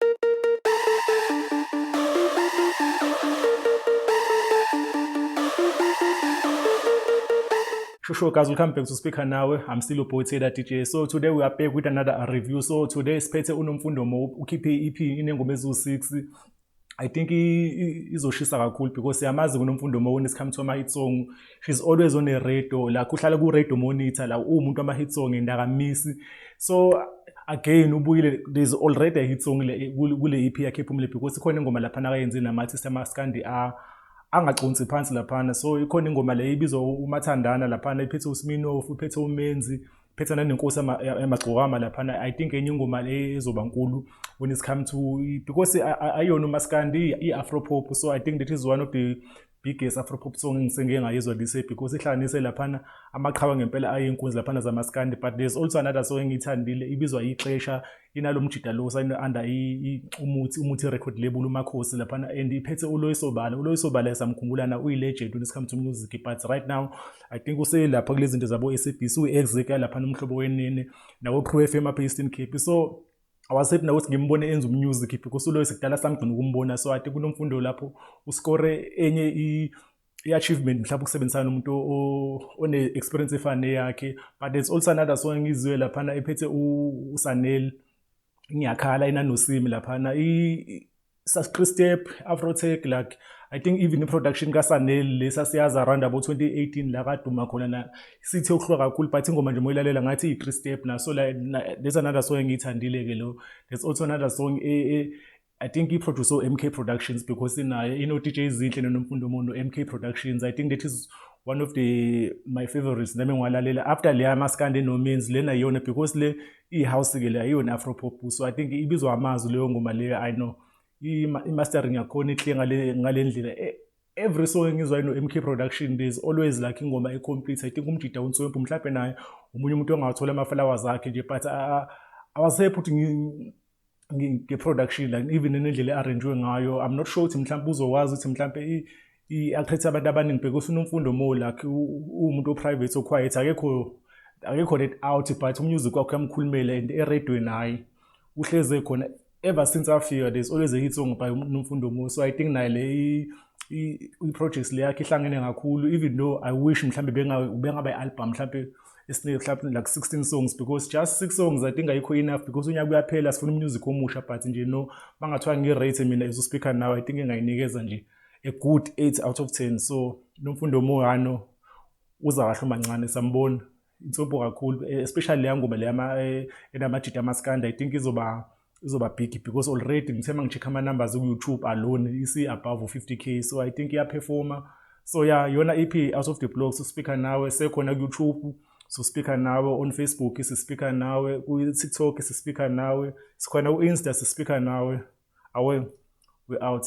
Sure, sure, guys, welcome back to Speaker Now. I'm still your boy Taylor DJ. So today we are back with another uh, review. So today siphethe uNomfundo Mo ukhiphe EP inengoma eziwu-6 I think izoshisa kakhulu because siyamazi kunomfundo Mo when it's come to ama-hit song she's always on a radio la kuhlala ku radio monitor la umuntu ama hit song endakamisi so again ubuyile there's already a hit song kule EP yakhe phumile because khona ingoma lapha nakayenze nama artist ama Scandi a angaconsi phansi laphana so ikhona ingoma le ibizwa umathandana laphana iphethe uSminoff uphethe uMenzi phetha nanenkosi yamagcokama laphana i think enye ingoma le ezoba nkulu when it's come to because ayona umaskandi i-afropop so i think that is one of the biggest afropop song engisengike ngayizwa this year because ihlanganise laphana amaqhawe ngempela ayinkunzi laphana zamaskandi but there's also another song engiyithandile ibizwa ixesha inalo mjida lo sayine under umuthi umuthi record label umakhosi laphana and iphethe uloyisobala uloyisobala esamkhumbula na uyilegend when it comes to music but right now i think uselapha kulezinto zabo SABC uexecutor laphana umhlobo wenene nawo Crew FM apha eStern Cape so awasethi nakuthi ngimbone enza umusic if kusuloyo sikudala samgcina ukumbona so ati kunomfundo lapho uskore enye i-achievement mhlawumbe ukusebenzisana nomuntu one-experience efana neyakhe but there's also another song engizwe laphana ephethe usanel ngiyakhala inanosimi laphana Saskristep, Afrotech like I think even i-production kaSanel le sasiyazi around abo 2018 la kaduma khona na sithe ukuhlwa kakhulu but ingoma nje moyilalela ngathi i-three step na so like there's another song engiyithandile ke lo there's also another song e, e I think he produced MK Productions because in I you know DJ Zinhle noNomfundo Mono MK Productions I think that is one of the my favorites nami ngiwalalela after leya maskande no means lena yona because le i-house ke le ayiyona afropop so i think ibizwa amazwi leyo ngoma leyo i know i-mastering yakhona ihle ngale ndlela e, every song engizwa ino-mk production there's always like ingoma ecomplete i think umjida unswempu mhlawumpe naye omunye umuntu ongathola amafalawa zakhe nje but awasephuthu nge-production like even nendlela e-arranjwe ngayo i'm not sure ukuthi mhlawumbe uzokwazi ukuthi mhlawumbe i-attract abantu abaningi because unomfundo mo like uwumuntu o-private o-quiet akekho akekho let out but umusic wakho uyamkhulumela and eredweni hhayi uhleze khona ever since afika there's always a hit song by nomfundo mo so i think naye le i-projects le yakhe ihlangene kakhulu even though i wish mhlawumbe bengaba i-album mhlawumbe esinika mhlawumbe like 16 songs because just 6 songs i think ayikho enough because unyaka uyaphela sifuna umusic omusha but nje no bangathiwa ngi-rate mina as uspeaker now i think engayinikeza nje a good 8 out of 10 so nomfundo omuhano uza kahle umancane sambona insobho kakhulu especially leya ngoma leyama eh, enamajita amaskanda i think izoba izoba big because already ngithe uma ngi-check ama-numbers ku-youtube alone isi-above 50 k so i think iyaperforma so ya yeah, yona ip e out of the blog sospeaker nawe sekhona ku-youtube sospeaker nawe on facebook sispeaker nawe ku-tiktok sispeaker nawe sikhona ku-insta sispeaker nawe awe we out